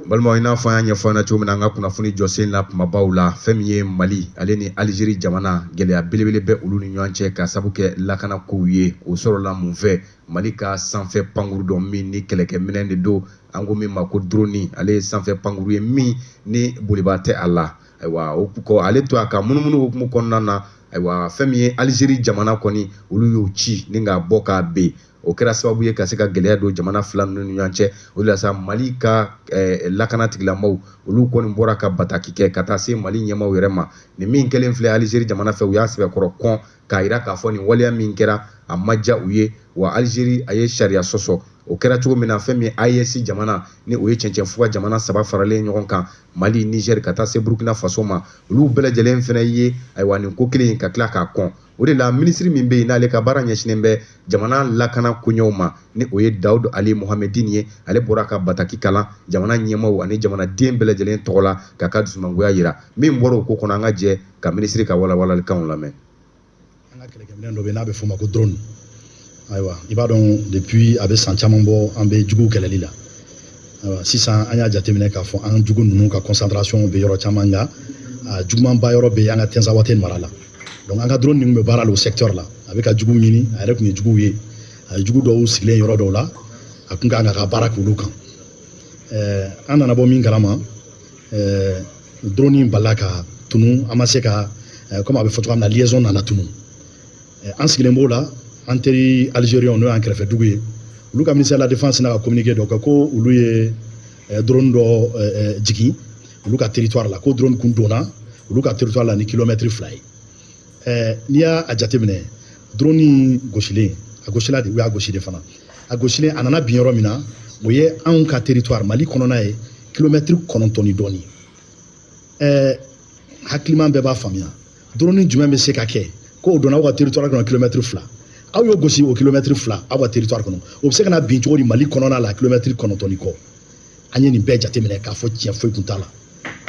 balimaw i n'a fɔ an y'a ɲɛfɔ ɲɛna cogo min na an ka kunnafoni jɔsen na kumabaw la fɛn min ye mali ale ni alizeri jamana gɛlɛya belebele bɛ olu ni ɲɔgɔn cɛ ka sabu kɛ lakana kow ye o sɔrɔla mun fɛ mali ka sanfɛ pankuru dɔ min ni kɛlɛkɛminɛn de don an ko min ma ko droni ale ye sanfɛ pankuru ye min ni boliba tɛ a la ayiwa o kɔ ale to a ka munumunu hukumu kɔnɔna na ayiwa fɛn min ye alizeri jamana kɔni olu y'o ci ni k'a bɔ k'a ben o kɛra sababu ye ka se ka gɛlɛya don jamana fila ninnu ni ɲɔgɔn cɛ o de la sa mali ka eh, lakana tigilamaw olu kɔni bɔra ka bataki kɛ ka taa se mali ɲɛmaw yɛrɛ ma nin min kɛlen filɛ alizeri jamana fɛ u y'a sɛbɛkɔrɔ kɔn k'a yira k'a fɔ nin waleya min kɛra a ma diya u ye wa alizeri a ye sariya sɔsɔ o kɛra cogo min na fɛn min AES jamana ni o ye cɛncɛn fuga jamana saba faralen ɲɔgɔn kan Mali Niger ka taa se Burkina Faso ma olu bɛɛ lajɛlen fɛnɛ ye ayiwa nin ko kelen in ka tila k'a kɔn o de la minisiri min bɛ yen n'ale ka baara ɲɛsinnen bɛ jamana lakana koɲɛw ma ni o ye dawud ali mohamedin ye ale bɔra ka bataki kalan jamana ɲɛmaw ani jamanaden bɛɛ lajɛlen tɔgɔ la k'a ka dusumangoya yira min bɔra o ko kɔnɔ an ka jɛ ka minisiri ka walawalalikanw lamɛn an ka kɛlɛkɛminɛn dɔ bɛ n'a bɛ f'o ma ko drone ayiwa i b'a dɔn depuis a bɛ san caman bɔ an bɛ juguw kɛlɛli la ayiwa sisan an y'a jateminɛ k'a fɔ an jugu ninnu ka concentration bɛ yɔrɔ caman nka a jugumanba yɔrɔ bɛ an ka tinzawatɛn mara la donc an ka drone ninnu bɛ baara la o secteur la a bɛ ka juguw ɲini a yɛrɛ tun ye juguw ye a ye jugu dɔw sigilen yɔrɔ dɔw la a tun kan ka baara k'olu kan ɛɛ an nana bɔ min kalama ɛɛ drone in balila ka tunu an ma se ka komi a bɛ fɔ cogoya min na liaison nana tunu an sigilen b'o la an teri alizeri n'o y'an kɛrɛfɛ dugu ye olu ka ministère de la défense sinna ka kominike dɔ kɛ ko olu ye eh, drone dɔ eh, eh, jigin olu ka teritwari la ko drone kun donna olu ka teritwari la ni kilomɛtiri fila ye n'i y'a jateminɛ drone in gosilen a gosila de u y'a gosi de fana a gosilen a nana bin yɔrɔ min na o ye anw ka teritwari mali kɔnɔna ye kilomɛtiri kɔnɔntɔn ni dɔɔni hakiliman bɛɛ b'a faamuya drone jumɛn bɛ se ka kɛ ko o donna aw ka territoire kɔnɔ kilomɛtiri fila aw y'o gosi o kilomɛtiri fila aw ka territoire kɔnɔ o bɛ se ka na bin cogo di mali kɔnɔna la kilomɛtiri kɔnɔntɔn ni kɔ an ye nin bɛɛ jateminɛ k'a fɔ tiɲɛ foyi tun t'a la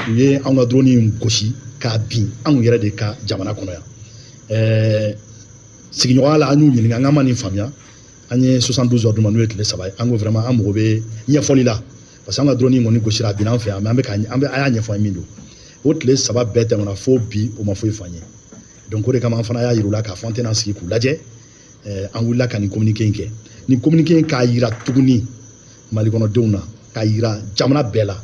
u ye anw ka drone in gosi k'a bin anw yɛrɛ de ka jamana kɔnɔ yan ɛɛ sigiɲɔgɔnya la an y'u ɲininka an k'an ma nin faamuya an ye 72 heures d'u ma n'o ye tile saba ye an ko vraiment an mago bɛ ɲɛfɔli la paseke an ka drone in kɔni gosira a binna an fɛ yan an bɛ ka an bɛ aw y'a ɲɛfɔ an ye mun don o tile saba bɛɛ tɛmɛna fo bi u ma foyi f'an ye donc o de kama an fana y'a yir'u la k'a fɔ an tɛna sigi k'u lajɛ an wulila ka nin communiqué in kɛ nin communiqué in k'a yira tuguni mali kɔnɔdenw na k'a yira jamana bɛɛ la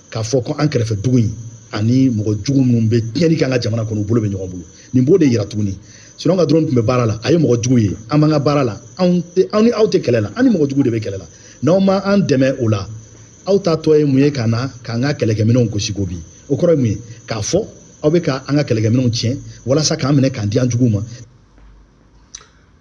k'a fɔ ko an kɛrɛfɛ dugu in ani mɔgɔ jugu minnu bɛ tiɲɛni kɛ an ka jamana kɔnɔ u bolo bɛ ɲɔgɔn bolo nin b'o de yira tuguni sinɔn an ka drone tun bɛ baara la a ye mɔgɔ jugu ye an b'an ka baara la anw tɛ anw ni aw tɛ kɛlɛ la an ni mɔgɔ jugu de bɛ kɛlɛ la n'aw ma an dɛmɛ o la aw ta tɔ ye mun ye ka na k'an ka kɛlɛkɛminɛnw gosi ko bi o kɔrɔ ye mun ye k'a fɔ aw bɛ ka an ka kɛlɛkɛminɛnw tiɲɛ walasa k'an minɛ k'an di an juguw ma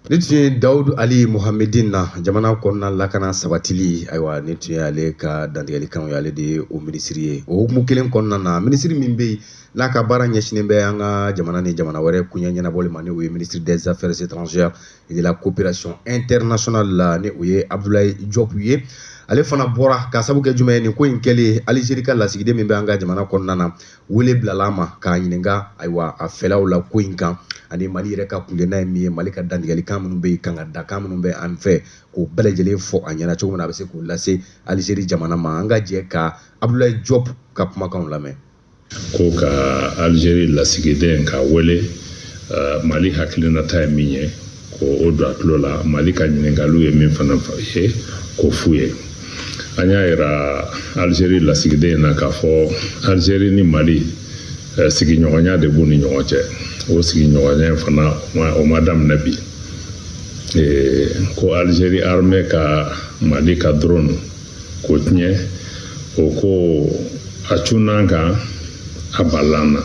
nin tun ye dawudu ali muhamedin na jamana kɔnɔna lakana sabatili ayiwa nin tun ye ale ka dantigɛlikanw ye ale de ye o minisiri ye o hukumu kelen kɔnɔna na minisiri min bɛ yen n'a ka baara ɲɛsinnen bɛ an ka jamana ni jamana wɛrɛ koɲɛ ɲɛnabɔli ma ni o ye ministre des affaires étrangères de la coopération internationale la ni o ye Abdoulaye Diop ye ale fana bɔra k'a sabu kɛ jumɛn ye nin ko in kɛlen Algérie ka lasigiden min bɛ an ka jamana kɔnɔna na wele bilala a ma k'a ɲininka ayiwa a fɛlaw la ko in kan ani Mali yɛrɛ ka kundenna ye min ye Mali ka dantigɛlikan minnu bɛ yen kangaridakan minnu bɛ an fɛ k'o bɛɛ lajɛlen fɔ a ɲɛna cogo min na a bɛ se k'o lase Algérie jamana ma an ka jɛ ka Abdoulaye Diop ka kumakanw lamɛn ko ka alizeri lasigiden ka wele uh, mali hakilinata ye min ye k'o don a tulo la mali ka ɲiningaliw ye min fana ye k'o f'u ye an y'a yira alizeri lasigiden na k'a fɔ alizeri ni mali uh, sigiɲɔgɔnya de b'u ni ɲɔgɔn cɛ o sigiɲɔgɔnya fana o ma daminɛ bi ko alizeri armɛ ka mali ka drone k'o tiɲɛ o ko a cunna an kan a balala an na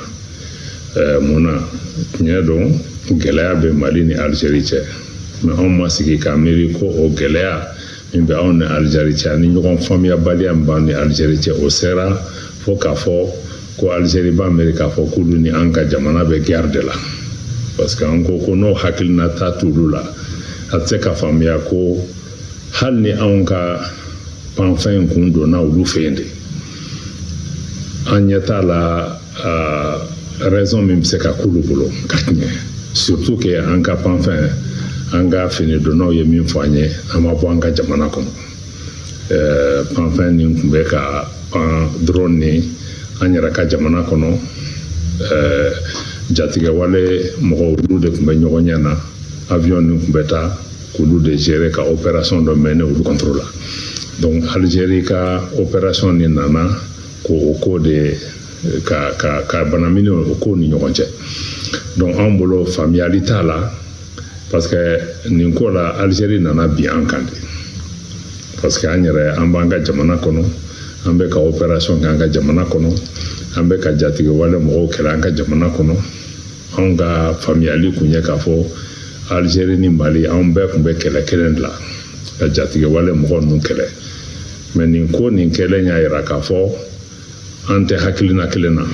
ɛɛ mun na tiɲɛ don gɛlɛya bɛ mali ni alizeri cɛ mais anw ma sigi k'a miiri ko o gɛlɛya min bɛ anw ni alizeri cɛ ani ɲɔgɔn faamuyabaliya min b'an ni alizeri cɛ o sera fo k'a fɔ ko alizeri b'a miiri k'a fɔ k'olu ni an ka jamana bɛ guerre de la parce que an ko ko n'o hakilinata t'olu la a tɛ se ka faamuya ko hali ni anw ka panfɛn in kun donna olu fɛ yen de an ɲɛ t'a la raison min bɛ se ka k'olu bolo k'a tiɲɛ surtout que an ka panfɛn an ka finidonnaw ye min fɔ an ye a ma bɔ an ka jamana kɔnɔ panfɛn nin tun bɛ ka pan drone nin an yɛrɛ ka jamana kɔnɔ jatigɛwale mɔgɔw olu de tun bɛ ɲɔgɔnye na avion nin tun bɛ taa k'olu de gérer ka opération dɔ mener olu contre la donc Algérie ka opération de nana k'o ko de ka ka ka banamini o ko ni ɲɔgɔn cɛ donc an bolo faamuyali t'a la parce que nin ko la Algérie nana bin an kan de parce que an yɛrɛ an b'an ka jamana kɔnɔ an bɛ ka opération kɛ an ka jamana kɔnɔ an bɛ ka jatigɛwale mɔgɔw kɛlɛ an ka jamana kɔnɔ anw ka faamuyali kun ye k'a fɔ alizeri ni mali anw bɛɛ tun bɛ kɛlɛ kelen de la ka jatigɛwale mɔgɔ ninnu kɛlɛ mais nin ko nin kɛlen y'a yira k'a fɔ an tɛ hakilina kelen na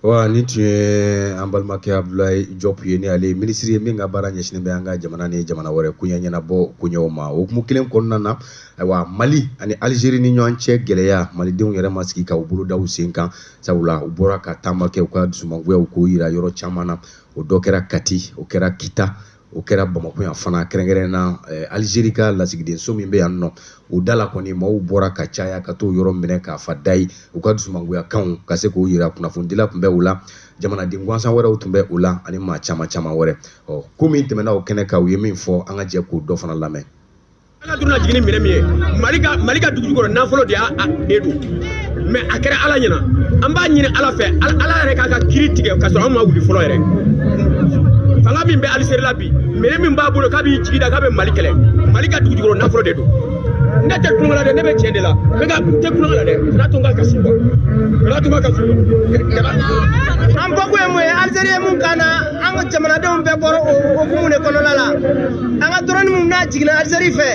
wa nin tun ye an balimakɛ abdulayi jɔp ye ni ale minisiri ye min ka baara ɲɛsinen bɛ an ka jamana ni jamana wɛrɛ koɲɛ ɲɛnabɔ koɲɛw ma o hukumu kelen kɔnɔna na ayiwa mali ani alizeri ni ɲɔgɔn cɛ gɛlɛya malidenw yɛrɛ ma sigi ka u bolo da u sen kan sabula u bɔra ka taama kɛ u ka dusumangoyaw k'o jira yɔrɔ caman na o dɔ kɛra Kati o kɛra Kita o kɛra Bamakɔ yan fana kɛrɛnkɛrɛn na eh, Algérie ka lasigidenso min bɛ yan nɔ o da la kɔni maaw bɔra ka caya ka t'o yɔrɔ minɛ k'a fa da ye u ka dusumangoyakanw ka se k'o jira kunnafonidila tun bɛ o la jamanaden gansan wɛrɛw tun bɛ o la ani maa caman caman wɛrɛ ɔ ko min tɛmɛna o kɛnɛ kan u ye min fɔ an ka jɛ k'o dɔ fana lamɛn An ka dɔrɔni jigin ni minɛn min ye mali ka mali ka dugujukɔrɔ nafolo de y'a don mais a kɛra ala ɲɛna an b'a ɲini ala fɛ ala yɛrɛ k'a ka kiri tigɛ ka sɔrɔ an ma wuli fɔlɔ yɛrɛ fanga min bɛ alizeri la bi minɛn min b'a bolo k'a b'i jigi da k'a bɛ mali kɛlɛ mali ka dugujukɔrɔ nafolo de don ne tɛ tulonkɛ la dɛ ne bɛ tiɲɛ de la ne tɛ tulonkɛ la dɛ kana to n ka kasi quoi kana to n ka kasi an bɔkun ye mun ye alizeri ye mun kama an ka jamanadenw bɛɛ bɔra o hukumu de kɔnɔna la an ka dɔrɔni min n'a jiginna alizeri fɛ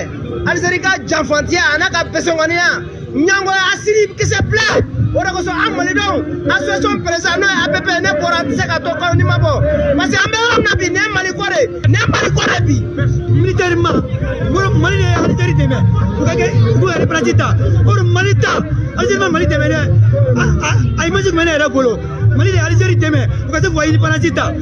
alizeri ka janfantiya a n'a ka pɛsɛnkɔniya ɲangoya asiri kisɛ bila o de kosɔn an malidenw association perezan n'o ye app ne bɔra an tɛ se ka to kɔ ni ma bɔ parce que an bɛ yɔrɔ min na bi ne mali ko de ne mali ko de bi militairement mali de ye alizeri dɛmɛ u ka kɛ u k'u yɛrɛ ta o de mali ta alizeri ma mali dɛmɛ dɛ a image tun bɛ ne yɛrɛ bolo Mali de ye Algérie dɛmɛ u ka se k'u ka indépendance ta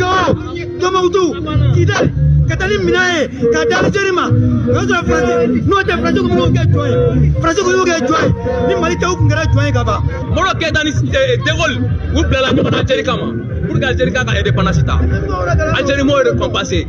Gao Tombouctou Kidali ka taa ni minɛn ye k'a di Algérie ma o y'a sɔrɔ France n'o tɛ France tun b'o kɛ jɔn ye France tun y'o kɛ jɔn ye ni Mali tɛ u tun kɛra jɔn ye ka ban. Modibo Keyita ni eh, De Gaulle u bilala ɲɔgɔn na Algérie kama pour que Algérie k'a ka indépendance ta Algérie m'o récompenser.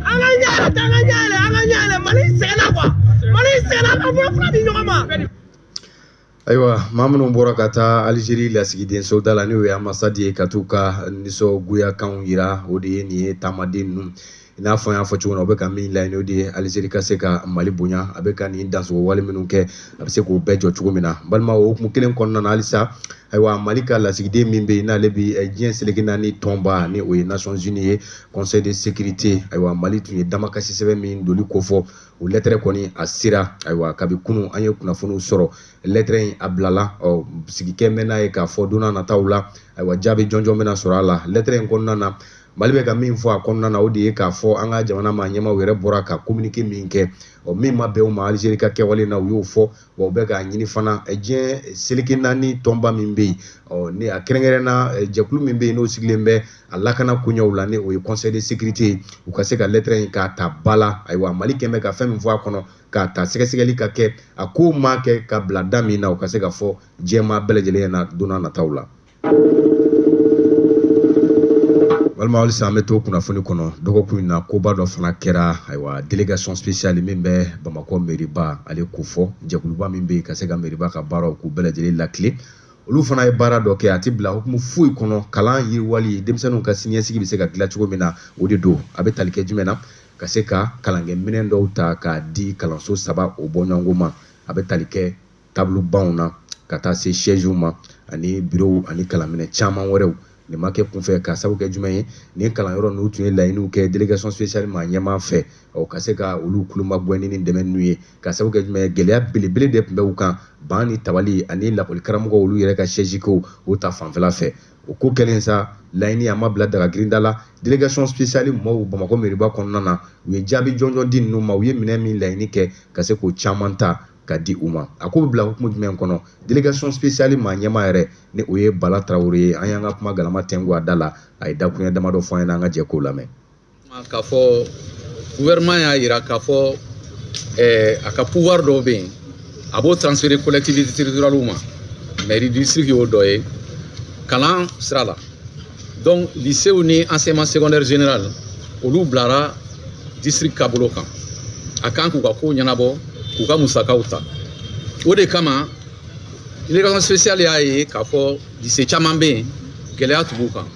an ka ɲɛ yɛlɛ an ka ɲɛ yɛlɛ an ka ɲɛ yɛlɛ mali sɛgɛnna quoi mali sɛgɛnna an bolo fila di ɲɔgɔn ma. ayiwa maa minnu bɔra ka taa alizeri lasigidenso da la n'o ye ambasadi ye ka t'u ka nisɔngoyakanw yira o de ye nin ye taamaden ninnu i n'a fɔ n y'a fɔ cogo min na o bɛ ka min laɲini o de ye alizeri ka se ka mali bonya a bɛ ka nin dansogo wale minnu kɛ a bɛ se k'o bɛɛ jɔ cogo min na balima o hukumu kelen kɔnɔna na halisa Ayiwa mali ka lasigiden min bɛ yen n'ale bɛ diɲɛ seleke naani tɔnba ni o ye Nations Unies ye Conseil de sécurité ayiwa mali tun ye damakasi sɛbɛn min donli kofɔ o lɛtɛrɛ kɔni a sera ayiwa kabi kunun an ye kunnafoniw sɔrɔ lɛtɛrɛ in a bilala ɔ sigikɛ mɛn n'a ye k'a fɔ don nataw la ayiwa jaabi jɔnjɔn bɛna sɔrɔ a la lɛtɛrɛ in kɔnɔna na mali bɛ ka min fɔ a kɔnɔna na o de ye k'a fɔ an ka jamana maa ɲɛmaaw yɛrɛ bɔra ka kominike min kɛ ɔ min ma bɛn u ma alizeri ka kɛwale na u y'o fɔ wa u bɛ k'a ɲini fana diɲɛ seleke naani tɔnba min bɛ yen ni a kɛrɛnkɛrɛn na jɛkulu min bɛ yen n'o sigilen bɛ a lakana koɲɛw la ni o ye conseil de sécurité ye u ka se ka lɛtɛrɛ in k'a ta ba la ayiwa mali kɛmɛ bɛ ka fɛn min fɔ a kɔnɔ k'a ta sɛgɛsɛgɛli ka kɛ a ko maa kɛ ka bila da min na u ka se ka fɔ diɲɛmaa bɛɛ lajɛlen ɲɛna don nataw la walima halisa an bɛ to kunnafoni kɔnɔ dɔgɔkun in na koba dɔ fana kɛra ayiwa délégation spéciale min bɛ bamakɔ meriba ale ko fɔ jɛkuluba min bɛ yen ka se ka meriba ka baaraw k'u bɛɛ lajɛlen lakile olu fana ye baara dɔ kɛ a tɛ bila hukumu foyi kɔnɔ kalan yiriwali denmisɛnninw ka siniɲɛsigi bɛ se ka dilan cogo min na o de don a bɛ tali kɛ jumɛn na ka se ka kalankɛminɛn dɔw ta k'a di kalanso saba o bɔɲɔgɔnko ma a bɛ tali kɛ table banw na ka taa se siège ma ani bureau ani kalanminɛn caman wɛrɛw nin ma kɛ kunfɛ ka sabu kɛ jumɛn ye nin kalanyɔrɔ ninnu tun ye laɲiniw kɛ délégation spéciale maa ɲɛmaa fɛ ɔ ka se ka olu kulomagɛnni ni dɛmɛ ninnu ye ka sabu kɛ jumɛn ye gɛlɛya belebele de tun bɛ u kan ban ni tabali ani lakɔli karamɔgɔw olu yɛrɛ ka siège ko o ta fanfɛla fɛ o ko kɛlen sa laɲini a ma bila daga girinda la délégation spéciale mɔɔw bamakɔ meriba kɔnɔna na u ye jaabi jɔnjɔn di ninnu ma u ye minɛn min laɲini kɛ ka se k'o caman ta ka di u ma a ko bɛ bila hukumu jumɛn kɔnɔ délégation spéciale maa ɲɛmaa yɛrɛ ni o ye Bala Tarawele ye an y'an ka kuma galama tɛngu a da la a ye dakuruɲɛ damadɔ fɔ an ɲɛna an ka jɛ k'o lamɛn. k'a fɔ gouvernement y'a jira k'a fɔ ɛɛ a ka pouvoir dɔw bɛ yen a b'o transférer collectivité territoriale ma mairie district y'o dɔ ye kalan sira la. donc lisew ni enseignement secondaire général olu bilara district ka bolo kan a kan k'u ka kow ɲɛnabɔ k'u ka musakaw ta o de kama délégation spéciale y'a ye k'a fɔ lise caman bɛ yen gɛlɛya tun b'u kan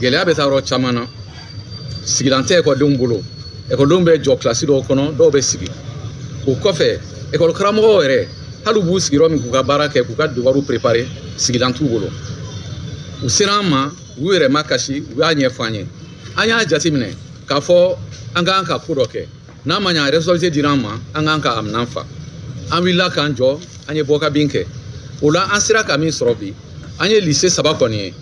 gɛlɛya bɛ taa yɔrɔ caman na sigilan tɛ ekɔlidenw bolo ekɔlidenw bɛ jɔ kilasi dɔw kɔnɔ dɔw bɛ sigi o kɔfɛ ekɔli karamɔgɔw yɛrɛ hali u b'u sigi yɔrɔ min k'u ka baara kɛ k'u ka devoirw préparer sigilan t'u bolo u sera an ma u yɛrɛ makasi u y'a ɲɛfɔ an ye an y'a jateminɛ k'a fɔ an k'an ka ko dɔ kɛ n'a ma ɲa responsabilité dira an ma an k'an ka aminan fa an wulila k'an jɔ an ye bɔkabin kɛ o la an sera ka min sɔrɔ bi an ye lise saba kɔni ye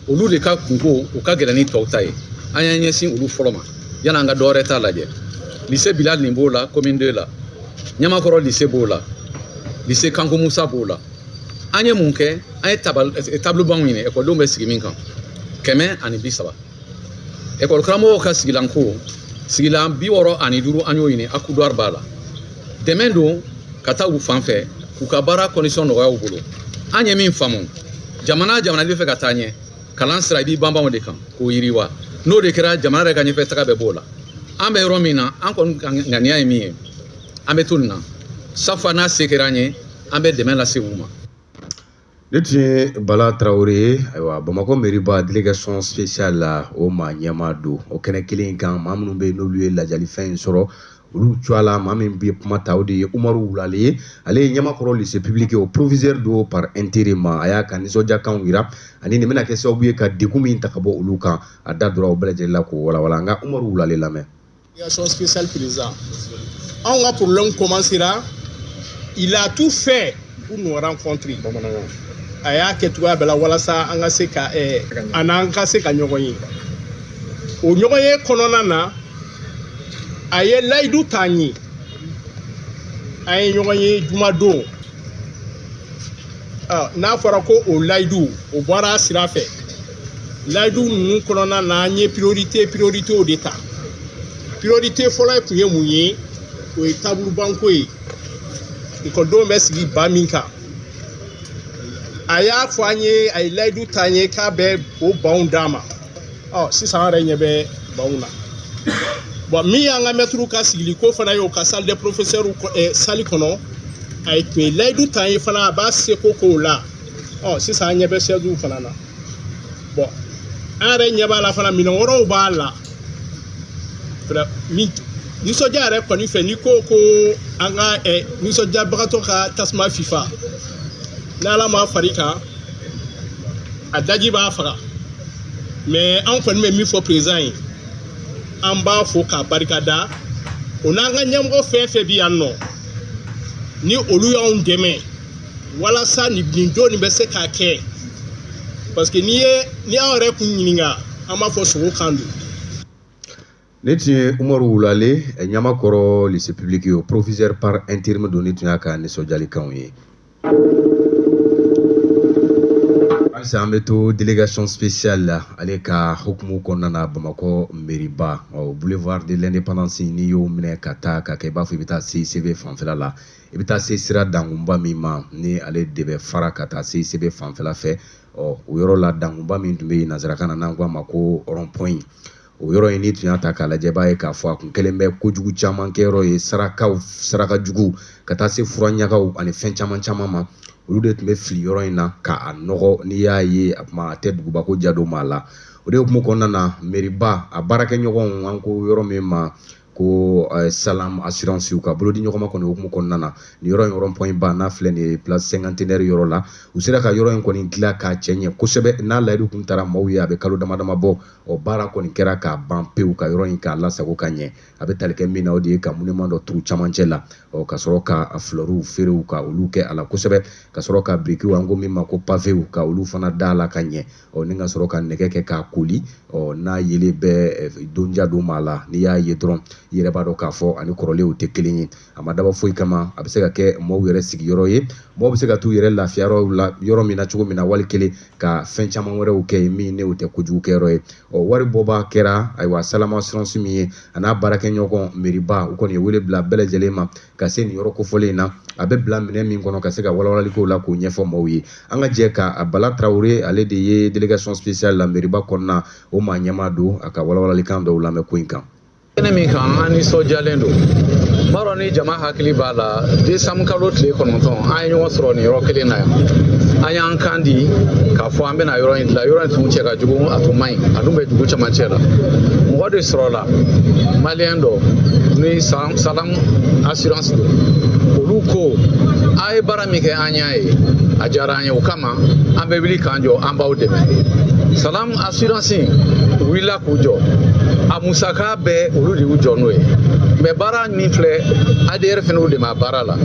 olu de ka kunko u ka gɛlɛn ni tɔw ta ye an y'an ɲɛsin olu fɔlɔ ma yani an ka dɔ wɛrɛ ta lajɛ lise bilali b'o la commune 2 la ɲamakɔrɔ lise b'o la lise kanko musa b'o la an ye mun kɛ an ye eh, tablebanw ɲini ekɔlidenw bɛ sigi min kan kɛmɛ ani bi saba ekɔli karamɔgɔw ka sigilanko sigilan bi wɔɔrɔ ani duuru an y'o ɲini akuduwari b'a la dɛmɛ don ka taa u fan fɛ k'u ka baara kɔndisɔn nɔgɔya u bolo an ye min faamu jamana jamana bɛ fɛ ka taa ɲɛ kalan sira i b'i banban o de kan k'o yiriwa n'o de kɛra jamana yɛrɛ ka ɲɛfɛ taga bɛɛ b'o la an bɛ yɔrɔ min na an kɔni ka ŋaniya ye min ye an bɛ to nin na chaque fois n'a se kɛra an ye an bɛ dɛmɛ lase u ma Nin tun ye bala tarawele ye ayiwa bamakɔ meriba délégation spéciale la o maa ɲɛmaa don o kɛnɛ kelen kan maa minnu bɛ yen n'olu ye ladiyalifɛn in sɔrɔ olu tɔgɔ la maa min bɛ kuma ta o de ye umaru wulale ye ale ye ɲamakɔrɔ lise publiki o proviseur don par intérim a y'a ka nisɔndiyakanw jira ani nin bɛna kɛ sababu ye ka degun min ta ka bɔ olu kan a da dora o bɛɛ lajɛlen la k'o walawala an ka umaru wulale lamɛn Délégation spéciale président. Anw ka problème commencera, il a tout fait pour nous rencontrer. Bamanankan. A y'a kɛ cogoya bɛɛ la walasa an ka se ka eh, a n'an ka se ka ɲɔgɔn ye. O ɲɔgɔn ye kɔnɔna na, a ye layidu ta an ye. An ye ɲɔgɔn ye jumadon. Ɔ, N'a fɔra ko o layidu, o bɔra a sira fɛ. layidu ninnu kɔnɔna na an ye priorite prioritew de ta priorite fɔlɔ tun ye mun ye o ye tabulubanko ye ekɔlidenw bɛ sigi ban min kan a y'a fɔ an ye a ye layidu ta an ye k'a bɛ o banw d'an ma ɔ sisan an yɛrɛ ɲɛ bɛ banw na bon min y'an ka mɛtiriw ka sigili ko fana ye o ka salle de professeur eh, sali kɔnɔ a ye tun ye layidu ta an ye fana a b'a seko k'o la ɔ sisan an ɲɛ bɛ sɛziw fana na bon an yɛrɛ ɲɛ b'a la fana minɛn wɛrɛw b'a la nisɔndiya yɛrɛ kɔni fɛ n'i ko ko an ka ɛ nisɔndiyabagatɔ ka tasuma fifa n'ala ma far'i kan a daji b'a faga mais an kɔni bɛ min fɔ président ye an b'a fo k'a barika da o n'an ka ɲɛmɔgɔ fɛn fɛn bɛ yan nɔ ni olu y'anw dɛmɛ walasa nin bi don nin bɛ se ka kɛ parce que n'i ye anw yɛrɛ kun ɲininka an b'a fɔ sugo kan don nin tun ye umaru wulale ɲamakɔrɔ lise publiki o proviseur par intérim don nin tun y'a ka nisɔndiyalikanw ye halisa an bɛ to délégation spéciale la ale ka hukumu kɔnɔna na bamakɔ meriba boulevard de l'indépendance n'i y'o minɛ ka taa ka kɛ i b'a fɔ i bɛ taa cicb fanfɛla la i bɛ taa se sira dankunba min ma ni ale de bɛ fara ka taa cicb fanfɛla fɛ ɔ o yɔrɔ la dankunba min tun bɛ yen nanzarakan na n'an k'a ma ko rɔnpɔn o yɔrɔ in n'i tun y'a ta k'a lajɛ b'a ye k'a fɔ a kun kɛlen bɛ kojugu caman kɛyɔrɔ ye sarakaw saraka jugu ka taa se fura ɲagaw ani fɛn caman caman ma olu de tun bɛ fili yɔrɔ in na k'a nɔgɔ n'i y'a ye a kuma a tɛ duguba ko ja don maa la o de hukumu kɔnɔna na meriba a baarakɛɲɔgɔnw an ko yɔrɔ min ma ko eh, salam assurance ka bolo di ɲɔgɔnma kɔni hukumu kɔnɔna na ni yɔrɔ in rɔnpɔn ba n'a filɛ nin ye place cinquantenaire yɔrɔ la u sera ka yɔrɔ in kɔni dilan k'a cɛ ɲɛ kosɛbɛ n'a layidu kun taara maaw ye a bɛ kalo dama dama bɔ o baara kɔni kɛra k'a ban pewu ka yɔrɔ in k'a lasago ka ɲɛ a bɛ tali kɛ min na o de ye ka monument dɔ turu camancɛ la ɔ ka sɔrɔ ka flɛriw feerew ka olu kɛ a la kosɛbɛ ka sɔrɔ ka birikiw an ko min ma ko pavew ka olu fana da a la ka ɲɛ ɔ ni ka sɔrɔ ka nɛgɛ kɛ k'a koli ɔ n'a yelen bɛ donja don maa la n'i y'a ye dɔrɔn i yɛrɛ b'a dɔn k'a fɔ a ni kɔrɔlenw tɛ kelen ye a ma dabɔ foyi kama a bɛ se ka kɛ maaw yɛrɛ sigiyɔrɔ ye maaw bɛ se ka t'u yɛrɛ lafiya la yɔrɔ min na cogo min na wali kelen ka fɛn caman wɛrɛw kɛ yen min n'o tɛ kojugu kɛyɔrɔ ye ɔ wari bɔba kɛra ayiwa salam assurance min ye a n'a baarakɛɲɔgɔn meriba u kɔni ye wele bila bɛɛ lajɛlen ma ka se nin yɔrɔ kofɔlen in na a bɛ bila minɛ min kɔnɔ ka se ka walawalalikow la k'o ɲɛfɔ maaw ye an ka jɛ ka a bala tarawele ale de ye delegation spéciale la meriba kɔnɔna o maa ɲɛmaa don a ka walawalalikan dɔw lamɛn ko in kan kɛnɛ min kan an nisɔndiyalen don b'a dɔn ni jama hakili b'a la desanburu kalo tile kɔnɔntɔn an ye ɲɔgɔn sɔrɔ nin yɔrɔ kelen na yan an y'an kan di k'a fɔ an bɛna yɔrɔ in dilan yɔrɔ in tun cɛ ka jugu a tun man ɲi a dun bɛ dugu camancɛ la mɔgɔ de sɔrɔla maliyɛn dɔ ni san salam assurance don olu ko a ye baara min kɛ an y'a ye a diyara an ye o kama an bɛ wuli k'an jɔ an b'aw dɛmɛ salam assurance wulila k'u jɔ a musaka bɛɛ olu de y'u jɔ n'o ye mɛ baara min filɛ adr fɛnɛ y'u dɛmɛ a baara la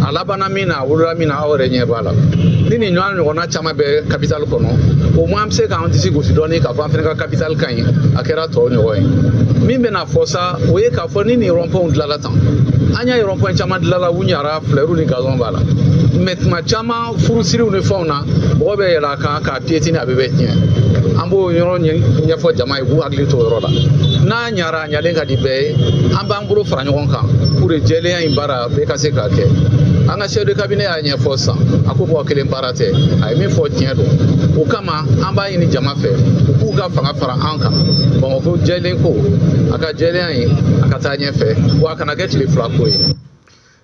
a labanna min na a wolola min na aw yɛrɛ ɲɛ b'a la ni nin ɲɔgɔnna caman bɛ kapitali kɔnɔ au moins an bɛ se k'an disi gosi dɔɔni k'a fɔ an fɛnɛ ka kapitali ka ɲi a kɛra tɔw ɲɔgɔn ye min bɛna fɔ sa o ye ka fɔ ni nin rɔnpɔnw dilanla tan an y'a ye rɔnpɔn caman dilanla u ɲara filɛriw ni gazɔn b'a la mɛ tuma caman furusiriw ni fɛnw na mɔgɔ bɛ yɛlɛ a kan k'a piyetini a bɛ bɛɛ tiɲɛ an b'o yɔrɔ ɲɛfɔ jama ye k'u hakili to o yɔrɔ la n'a ɲara a ɲalen ka di bɛɛ ye an b'an bolo fara ɲɔgɔn kan pour que jɛlenya in baara bɛɛ ka se k'a kɛ an ka chef de cabinet y'a ɲɛfɔ sisan a ko mɔgɔ kelen baara tɛ a ye min fɔ tiɲɛ don o kama an b'a ɲini jama fɛ u k'u ka fanga fara an kan bamakɔ jɛlen ko a ka jɛlenya in a ka taa ɲɛfɛ wa a kana kɛ tile fila ko ye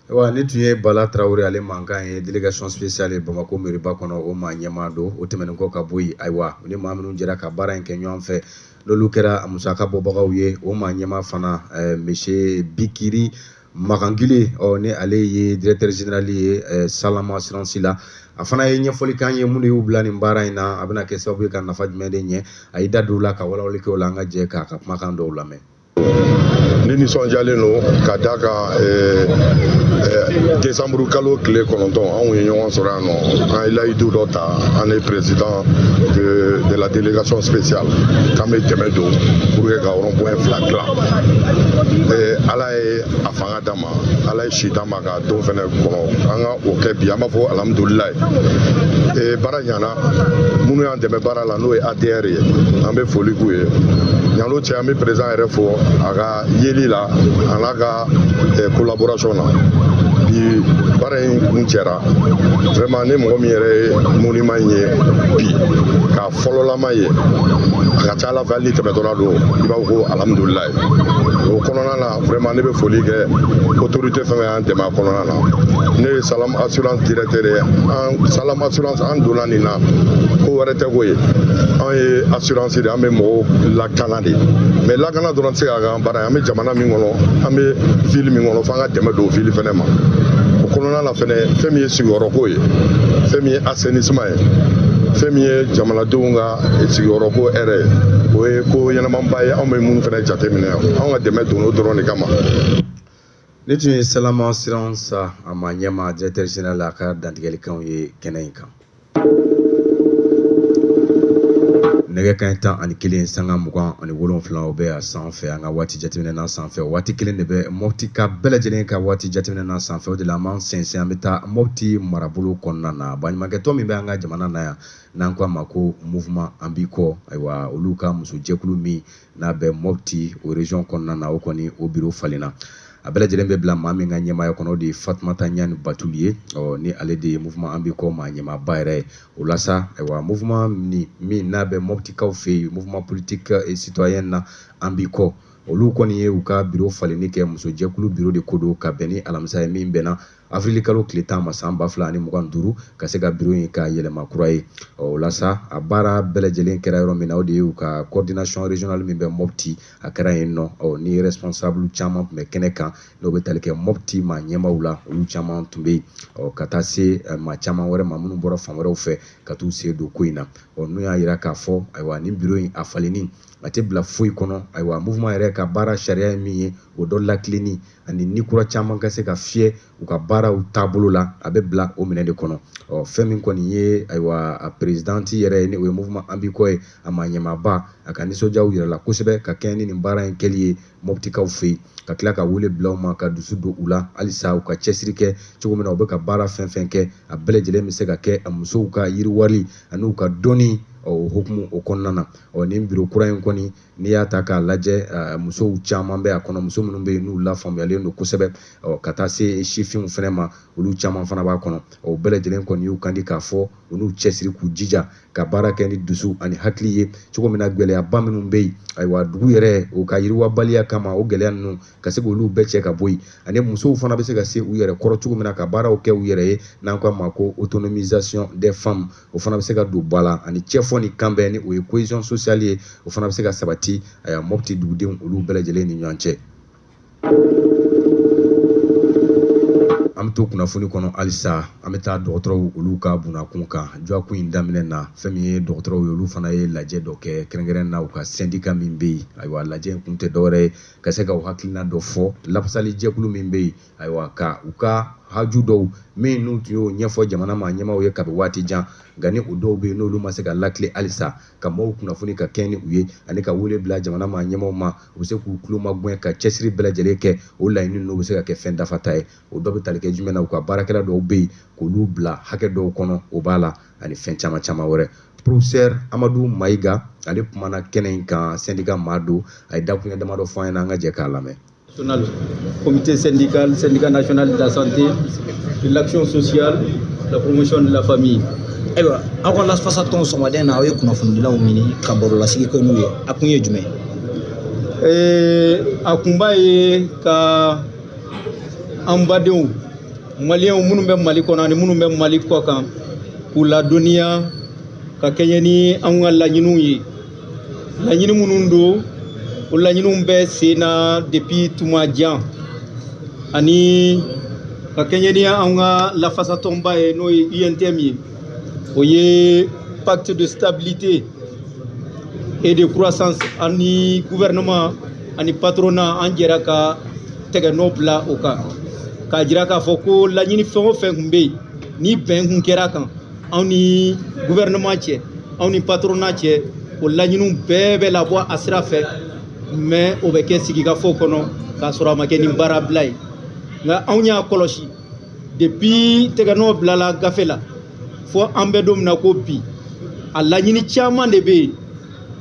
wa nin tun ye bala tarawele ale mankan ye delegation spéciale ye bamako meriba kɔnɔ o maa ɲɛmaa don o tɛmɛnen kɔ ka bɔ yen ayiwa u ni maa minnu jɛra ka baara in kɛ ɲɔgɔn fɛ n'olu kɛra a musaka bɔbagaw ye o maa ɲɛmaa fana eh, monsieur bikiri Makangile ɔ ni ale ye directeur général ye ɛ Salama assurance la a fana ye ɲɛfɔli k'an ye mun de y'u bila nin baara in na a bɛna kɛ sababu ye ka nafa jumɛn de ɲɛ a y'i da don o la ka walawali kɛ o la an ka jɛ k'a ka kumakan dɔw lamɛn ne nisɔndiyalen don ka da kan eh, eh, desanburu kalo tile kɔnɔntɔn anw ye ɲɔgɔn sɔrɔ yan nɔ an ye layidu dɔ ta an ye président de, de la délégation spéciale k'an bɛ dɛmɛ don pour que ka rond point fila dilan eh, ala a ye a fanga d'an ma ala ye si d'an ma k'a don fɛnɛ kɔnɔ an ka o kɛ bi an b'a fɔ alhamdulilayi baara ɲana minnu y'an dɛmɛ baara la n'o ye ADR ye an bɛ foli k'u ye ɲalo cɛ an bɛ président yɛrɛ fo a ka yeli la a n'a ka collaboration na bi baara in kuncɛra vraiment ni mɔgɔ min yɛrɛ ye monument ye bi fɔlɔlama ye a ka ca ala fɛ hali ni tɛmɛtɔla don i b'a fɔ ko alhamdulila o kɔnɔna na vraiment ne bɛ foli kɛ autorité fɛn y'an dɛmɛ a kɔnɔna na ne ye salam assurance directeur ye an salam assurance an donna nin na ko wɛrɛ tɛ ko ye an ye assurance de an bɛ mɔgɔw lakana de mais lakana dɔrɔn tɛ se ka k'an baara ye an bɛ jamana min kɔnɔ an bɛ ville min kɔnɔ f'an ka dɛmɛ don ville fɛnɛ ma o kɔnɔna na A fɛnɛ fɛn min ye sigiyɔrɔko ye fɛn min ye assainissement ye fɛn min ye jamanadenw ka sigiyɔrɔko hɛrɛ ye o ye ko ɲɛnamaba ye anw bɛ minnu fɛnɛ jateminɛ anw ka dɛmɛ don o dɔrɔn de kama nin tun ye Salama assurance a maa ɲɛmaa directeur général a ka dantigɛlikanw ye kɛnɛ in kan nɛgɛ kanɲɛ tan ani kelen sanga mugan ani wolonwula o bɛ a sanfɛ an ka waati jateminɛ na sanfɛ waati kelen de bɛ Mopti ka bɛɛ lajɛlen ka waati jateminɛ na sanfɛ o de la an b'an sɛnsɛn an bɛ taa Mopti marabolo kɔnɔna na baɲumankɛtɔn min bɛ an ka jamana na yan n'an ko a ma ko mouvement an b'i kɔ ayiwa olu ka musojɛkulu min n'a bɛ Mopti o région kɔnɔna na o kɔni o biro falenna a bɛɛ lajɛlen bɛ bila maa min ka ɲɛmaaya kɔnɔ o de ye Fatumata Ɲani Batuli ye ɔ ni ale de ye mouvement an b'i kɔ maa ɲɛmaaba yɛrɛ ye o la sa ayiwa mouvement min n'a bɛ Moptikaw fɛ yen mouvement politique et citoyen na an b'i kɔ olu kɔni ye u ka biro falenni kɛ musojɛkulu biro de ko don ka bɛn ni alamisa ye min bɛnna Avril kalo tile tan ma san ba fila ani mugan duuru ka se ka biro in ka yɛlɛma kura ye o la sa a baara bɛɛ lajɛlen kɛra yɔrɔ min na o de y'u ka coordination régionale min bɛ Mopti a kɛra yen nɔ ɔ ni responsable caman tun bɛ kɛnɛ kan n'o bɛ tali kɛ Mopti maa ɲɛmaaw la olu caman tun bɛ yen ɔ ka taa se eh, maa caman wɛrɛ ma minnu bɔra fan wɛrɛw fɛ ka t'u sen don ko in na ɔ n'u y'a jira k'a fɔ ayiwa nin biro in a falenni a tɛ bila foyi kɔnɔ ayiwa mouvement yɛrɛ ka baara sariya ye min ye o dɔ latilenni ani ni kura caman ka se ka fiyɛ u ka baaraw taabolo la a bɛ bila o minɛ de kɔnɔ ɔ fɛn min kɔni ye ayiwa a perezidanti yɛrɛ ye ni o ye mouvement an b'i kɔ ye a maa ɲɛmaaba a ka nisɔndiyaw yirala kosɛbɛ ka kɛɲɛ ni nin baara in kɛli ye mɔptikaw fɛ yen ka tila ka wele bila u ma ka dusu don u la halisa u ka cɛsiri kɛ cogo min na u bɛ ka baara fɛn fɛn kɛ a bɛɛ lajɛlen bɛ se ka kɛ a musow ka yiriwali ani u ka dɔnni ɔ o hukumu o kɔnɔna na ɔ nin biro kura in kɔni n'i y'a ta k'a lajɛ eh, musow caman bɛ a kɔnɔ muso minnu bɛ yen n'u lafaamuyalen don kosɛbɛ ɔ, ka taa se sifinw fana ma olu caman fana b'a kɔnɔ o bɛɛ lajɛlen kɔni y'u kandi k'a fɔ u n'u cɛsiri k'u jija ka baara kɛ ni dusu ani hakili ye cogo min na gɛlɛyaba minnu bɛ yen ayiwa dugu yɛrɛ o ka yiriwabaliya kama o gɛlɛya ninnu ka se k'olu bɛɛ cɛ ka bɔ yen ani musow fana bɛ se ka se u yɛrɛ kɔrɔ cogo min na ka baaraw kɛ u yɛrɛ ye n'an k'a ma ko autonomisation des femmes o fana bɛ se ka don ba la ani cɛfɔ ni kanbɛn ni o ye cohésion sociale ye o fana bɛ se ka sabati ayiwa mɔpti dugudenw olu bɛɛ lajɛlen ni ɲɔgɔn cɛ an bɛ to kunnafoni kɔnɔ halisa an bɛ taa dɔgɔtɔrɔw olu ka bunakun kan dɔgɔkun in daminɛ na fɛn min ye dɔgɔtɔrɔw ye olu fana ye lajɛ dɔ kɛ kɛrɛnkɛrɛn na u ka sendika min bɛ yen ayiwa lajɛ in kun tɛ dɔwɛrɛ ye ka se ka u hakilina dɔ fɔ lafasali jɛkulu min bɛ yen Ayiwa ka u ka haju dɔw min n'u tun y'o ɲɛfɔ jamana maa ɲɛmaaw ye kabi waati jan nka ni o dɔw bɛ yen n'olu ma se ka latilen halisa ka maaw kunnafoni ka kɛɲɛ ni u ye ani ka wele bila jamana maa ɲɛmaaw ma u bɛ se k'u tulo magɛn ka cɛsiri bɛɛ lajɛlen kɛ o laɲini ninnu bɛ se ka kɛ fɛn dafata ye o dɔ bɛ tali kɛ jumɛn na u ka baarakɛla dɔw bɛ yen k'olu bila hakɛ dɔw kɔnɔ o b'a la ani fɛn caman caman wɛrɛ professeur amadu mayiga ale kumana kɛnɛ in kan sendika maa don a ye dakuruɲɛ damadɔ fɔ an ɲɛna an ka jɛ k'a lamɛn comité syndical, syndicat national de la santé, de l'action sociale, de la promotion de la famille. ayiwa aw ka lafasatɔn sɔgɔmaden na aw ye kunnafonidilaw ɲini ka barolasigi kɛ n'u ye a kun ye jumɛn a kunba ye ka an badenw maliyɛnw minnu bɛ mali kɔnɔ ani minnu bɛ mali kɔ kan k'u ladɔnniya ka kɛɲɛ ni an ka laɲiniw ye laɲini minnu don o laɲiniw bɛ sen na depuis tuma jan ani ka kɛɲɛ ni an ka lafasatɔnba ye n'o ye UNTM ye o ye pacte de stabilité et de croissance ani gouvernement ani patronat an jɛra ka tɛgɛnɔ bila o kan k'a jira k'a fɔ ko laɲini fɛn o fɛn tun bɛ yen ni bɛn tun kɛra a kan anw ni gouvernement cɛ anw ni patronat cɛ o laɲiniw bɛɛ bɛ labɔ a sira fɛ mais o bɛ kɛ sigikafɔ kɔnɔ k'a sɔrɔ a ma kɛ ni baarabila ye nka anw y'a kɔlɔsi depuis tɛgɛnɔ bilala gafe la fo an bɛ don min na ko bi a laɲini caman de bɛ yen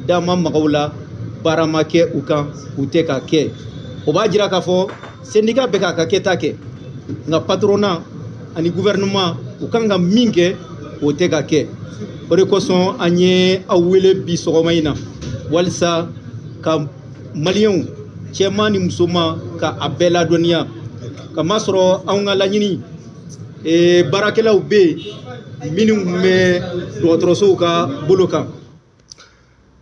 da ma maga u la baara ma kɛ u kan u tɛ ka kɛ o b'a jira k'a fɔ syndicat bɛ k'a ka kɛta kɛ nka patronat ani gouvernement u kan ka min kɛ o tɛ ka kɛ o de kosɔn an ye aw wele bi sɔgɔma in na walisa ka maliyɛnw cɛman ni musoman ka a bɛɛ ladɔnniya kamasɔrɔ anw ka laɲini baarakɛlaw bɛ yen minnu bɛ dɔgɔtɔrɔsow ka bolo kan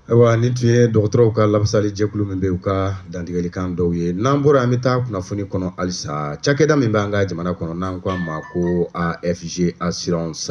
Ayiwa nin tun ye dɔgɔtɔrɔw ka lafasali jɛkulu min bɛ u ka dantigɛlikan dɔw ye n'an bɔra an bɛ taa kunnafoni kɔnɔ halisa cakɛda min bɛ an ka jamana kɔnɔ n'an ko a ma ko AFG assurance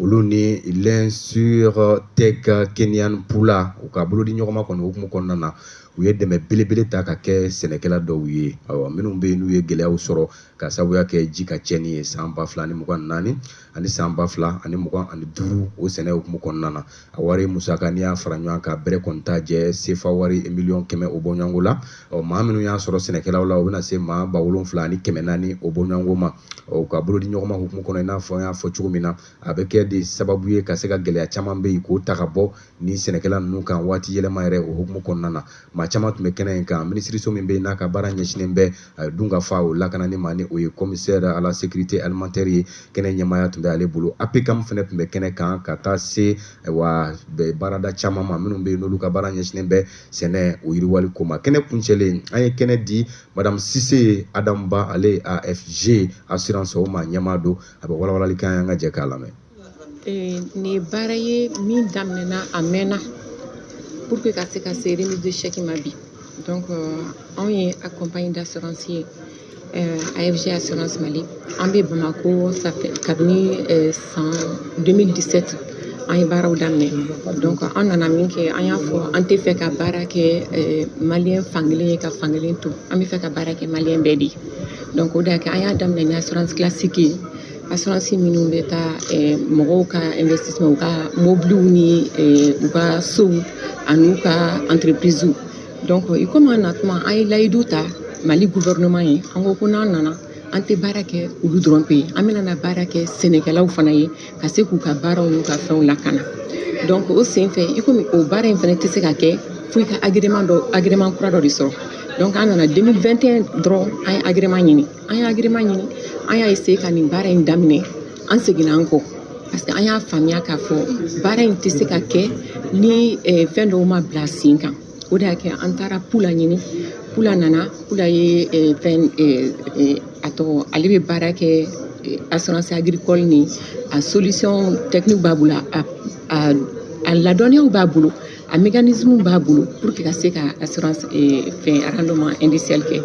olu ni l'insurtech Kenyan Pula u ka bolodiɲɔgɔnma kɔni hukumu kɔnɔna na u ye dɛmɛ belebele ta ka kɛ sɛnɛkɛla dɔw ye awa minnu bɛ yen n'u ye gɛlɛyaw sɔrɔ ka sabuya kɛ ji ka cɛnni ye san ba fila ani mugan naani ani san ba fila ani mugan ani duuru o sɛnɛ hukumu kɔnɔna na a wari musaka n'i y'a fara ɲɔgɔn kan bɛrɛ kɔni t'a jɛ sefa wari miliyɔn kɛmɛ o bɔɲɔgɔnko la ɔ maa minnu y'a sɔrɔ sɛnɛkɛlaw la o bɛna se maa ba wolonfila ani kɛmɛ naani o bɔɲɔgɔnko ma ɔ ka bolodiɲɔgɔnma hukumu kɔnɔ i n'a fɔ n y'a fɔ cogo min na a bɛ kɛ de sababu ye ka se ka gɛlɛya caman bɛ yen k'o ta ka bɔ ni sɛnɛkɛla ninnu kan waati yɛlɛma yɛrɛ o hukumu kɔnɔna na maa caman tun bɛ kɛnɛ in kan minisiriso min bɛ yen n'a ka baara ɲɛsinnen bɛ dunkafa o lakanani ma ni o ye commissaire à la sécurité alimentaire ye kɛnɛ ɲɛmaaya tun bɛ ale bolo APCAM fana tun bɛ kɛnɛ kan ka taa se wa baarada caman ma minnu bɛ yen n'olu ka baara ɲɛsinnen bɛ sɛnɛ o yiriwali ko ma kɛnɛ kuncɛlen an ye kɛnɛ di madame Cissé Adam Ba ale AFG assurance o ma ɲɛmaa don a bɛ walawalali kan an ka jɛ k'a lamɛn Nin ye baara ye min daminɛna a mɛnna pour que ka se ka se remise de chèque ma bi donc anw ye compagnie d'assurance ye AFG assurance Mali an bɛ Bamako ça fait kabini san 2017 an ye baaraw daminɛ donc an nana min kɛ an y'a fɔ an tɛ fɛ ka baara kɛ maliyɛn fankelen ye ka fankelen to an bɛ fɛ ka baara kɛ maliyɛn bɛɛ de ye donc o de y'a kɛ an y'a daminɛ ni assurance classique ye Assurances minnu bɛ taa mɔgɔw ka investissement u ka mobiliw ni u ka sow an'u ka entreprises donc i komi an na tuma an ye layidu ta Mali gouvernement ye an ko ko n'an nana an tɛ baara kɛ olu dɔrɔn pe ye an bɛna na baara kɛ sɛnɛkɛlaw fana ye ka se k'u ka baaraw n'u ka fɛnw lakana donc o senfɛ i komi o baara in fana tɛ se ka kɛ fo i ka agrément dɔ agrément kura dɔ de sɔrɔ donc an nana 2021 dɔrɔn an ye agrément ɲini an ye agrément ɲini an y'a essayé ka nin baara in daminɛ an seginna an kɔ parce que an y'a faamuya k'a fɔ baara in tɛ se ka kɛ ni eh, fɛn dɔw ma bila sen kan o de y'a kɛ an taara Pula ɲini Pula nana Pula ye eh, fɛn eh, eh, a tɔgɔ ale bɛ baara kɛ eh, assurance agricole ni a solution technique b'a bolo a, a, a ladɔnniyaw b'a bolo A mécanisme b'a bolo pour que ka se ka assurance ee fɛn rendement indiciel kɛ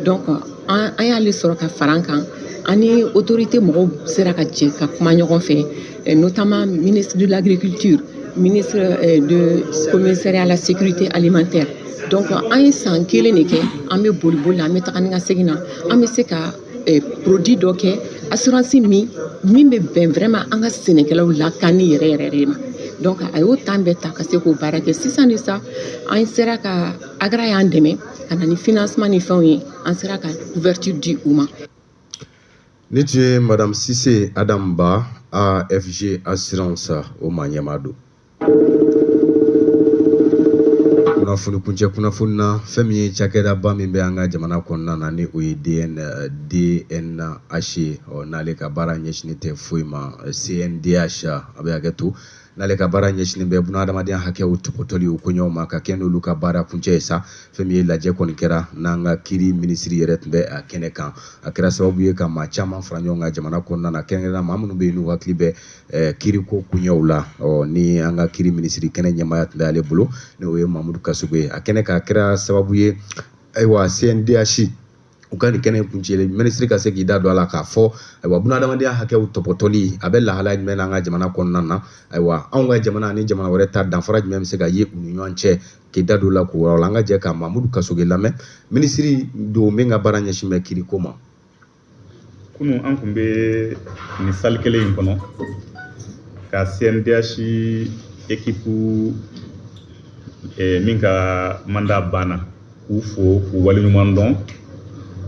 donc an an y'ale sɔrɔ ka fara an kan an ni autorité mɔgɔw sera ka jɛ ka kuma ɲɔgɔn fɛ notamment ministre de l'agriculture ministre euh, de commissariat à la sécurité alimentaire donc an ye san kelen de kɛ an bɛ boli boli la an bɛ taga ni ka segin na an bɛ se ka eh, produit dɔ kɛ assurance min min bɛ bɛn vraiment an ka sɛnɛkɛlaw lakanni yɛrɛ yɛrɛ de ma donc a y'o temps bɛɛ ta ka se k'o baara kɛ sisan de sa an sera ka agra y'an dɛmɛ ka na ni financement ni fɛnw ye an sera ka couverture di u ma nin tun ye madame sise adam ba afg assurance o maa ɲɛmaa don kunnafoni kuncɛ kunnafoni na fɛn min ye cakɛdaba min bɛ an ka jamana kɔnɔna na ni o ye DNH ye ɔ n'ale ka baara ɲɛsinnen tɛ foyi ma CNDH a bɛ hakɛ to n'ale ka baara ɲɛsinnen bɛ bunahadamadenya hakɛw tɔpɔtɔli o koɲɛw ma ka kɛɲɛ n'olu ka baara kuncɛ ye sa fɛn min ye lajɛ kɔni kɛra n'an ka kiiri minisiri yɛrɛ tun bɛ a kɛnɛ kan a kɛra sababu ye ka maa caman fara ɲɔgɔn kan jamana kɔnɔna na kɛrɛnkɛrɛnnenya maa minnu bɛ yen n'u hakili bɛ Ɛɛ kiiriko koɲɛw la ɔ ni an ka kiiri minisiri kɛnɛ ɲɛmaaya tun bɛ ale bolo n'o ye Mamudu Kasoge ye a kɛnɛ kan a kɛra sababu ye ayiwa CNDH u ka nin kɛnɛ in kuncɛli minisiri ka se k'i da don a la k'a fɔ ayiwa bunahadamadenya hakɛw tɔpɔtɔli a bɛ lahalaya jumɛn na an ka jamana kɔnɔna na ayiwa anw ka jamana ani jamana wɛrɛ ta danfara jumɛn bɛ se ka ye u ni ɲɔgɔn cɛ k'i da don o la k'o yɔrɔ la an ka jɛ ka Mamudu Kasoge lamɛn minisiri don min ka baara ɲɛsin bɛ kiiriko ma kunun an tun bɛ nin salle kelen in kɔnɔ ka cndh équipe min ka mandat banna k'u fo k'u waleɲuman dɔn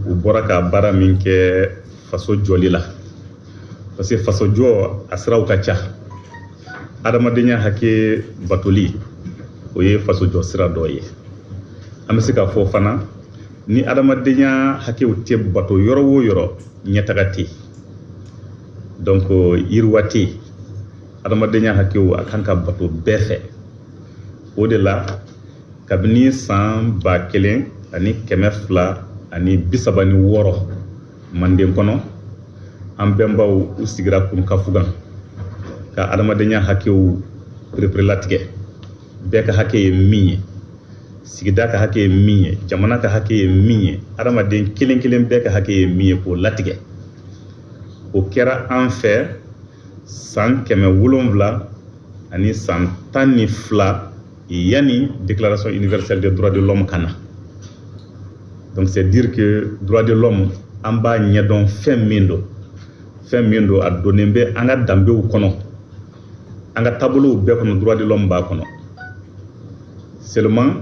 u bɔra ka baara min kɛ faso jɔli la parce que faso jɔ a siraw ka ca adamadenya hakɛ batoli o ye faso jɔ sira dɔ ye an bɛ se k'a fɔ fana ni adamadenya hakɛw tɛ bato yɔrɔ o yɔrɔ ɲɛtaga tɛ yen donc yiriwa tɛ yen adamadenya hakɛw a kan ka bato bɛɛ fɛ o de la kabini san ba kelen ani kɛmɛ fila ani bi saba ni wɔɔrɔ manden kɔnɔ an bɛnbaw u sigira kurukanfugan ka adamadenya hakɛw pereperelatigɛ bɛɛ ka hakɛ ye min ye sigida ka hakɛ ye min ye jamana ka hakɛ ye min ye adamaden kelen kelen bɛɛ ka hakɛ ye min ye k'o latigɛ o kɛra an fɛ san kɛmɛ wolonwula ani san tan ni fila yanni déclaration universelle des droits de l'homme ka na donc c'est dire que droit de l'homme an b'a ɲɛdɔn fɛn min don fɛn min don a donnen bɛ an ka danbew kɔnɔ an ka taabolow bɛɛ kɔnɔ droit de l'homme b'a kɔnɔ seulement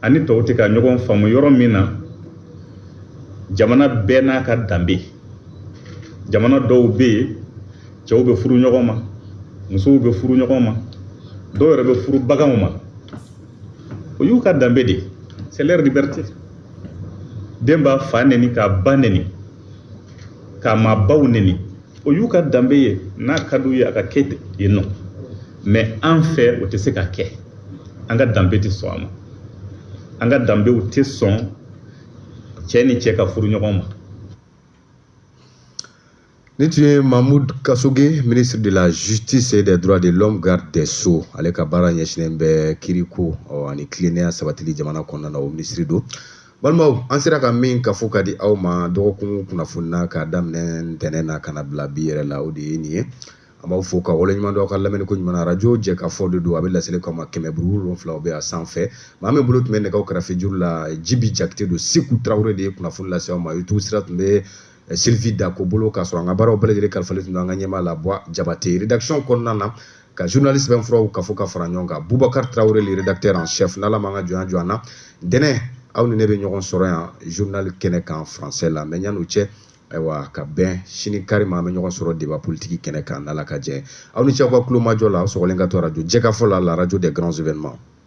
an ni tɔw tɛ ka ɲɔgɔn faamu yɔrɔ min na jamana bɛɛ n'a ka danbe jamana dɔw bɛ yen cɛw bɛ furu ɲɔgɔn ma musow bɛ furu ɲɔgɔn ma dɔw yɛrɛ bɛ furu baganw ma o y'u ka danbe de c'est leur liberté den b'a fa neni k'a ba neni k'a maabaw neni o y'u ka danbe ye n'a ka d'u ye a ka kɛ yen nɔ mais an fɛ o tɛ se ka kɛ an ka danbe tɛ sɔn a ma an ka danbew tɛ sɔn cɛ ni cɛ ka furu ɲɔgɔn ma Nin tun ye Mamoudou Kassogué, ministre de la Justice et des Droits de l'Homme, garde des Sceaux. Ale ka baara ɲɛsinnen bɛ kiiriko ani tilennenya sabatili jamana kɔnɔna na o minisiri don. balimaw an sera ka min kafo ka di aw ma dɔgɔkun kunnafoni na k'a daminɛ ntɛnɛn na ka na bila bi yɛrɛ la o de ye nin ye an b'aw fo k'aw waleɲumandɔn aw ka lamɛnni ko ɲuman na arajo jɛkafɔ de don a bɛ laseli k'aw ma kɛmɛ buru wolonwula bɛ a sanfɛ maa min bolo tun bɛ nɛgɛw karafejuru la jibi jakite don seku tarawele de ye kunnafoni lase aw ma youtube sira tun bɛ eh, sylvie dako bolo k'a sɔrɔ an ka baaraw bɛɛ lajɛlen kalifalen tun don an ka ɲɛmaa la buwa jabate rédaction kɔnɔna na ka journaliste bɛn furaw kafo ka fara ɲɔgɔn kan bubakar tarawele le rédacteur en chef n'ala m'an ka jɔnya jɔ an na ntɛnɛn aw ni ne bɛ ɲɔgɔn sɔrɔ yan journal kɛnɛ kan français la mais yann'o cɛ ayiwa ka bɛn sini kari ma an bɛ ɲɔgɔn sɔrɔ deba politiki kɛnɛ kan n'ala ka jɛn aw ni ce aw ka tulomajɔ la aw sɔgɔlen ka to arajo jɛkafɔ la la radio des grands événements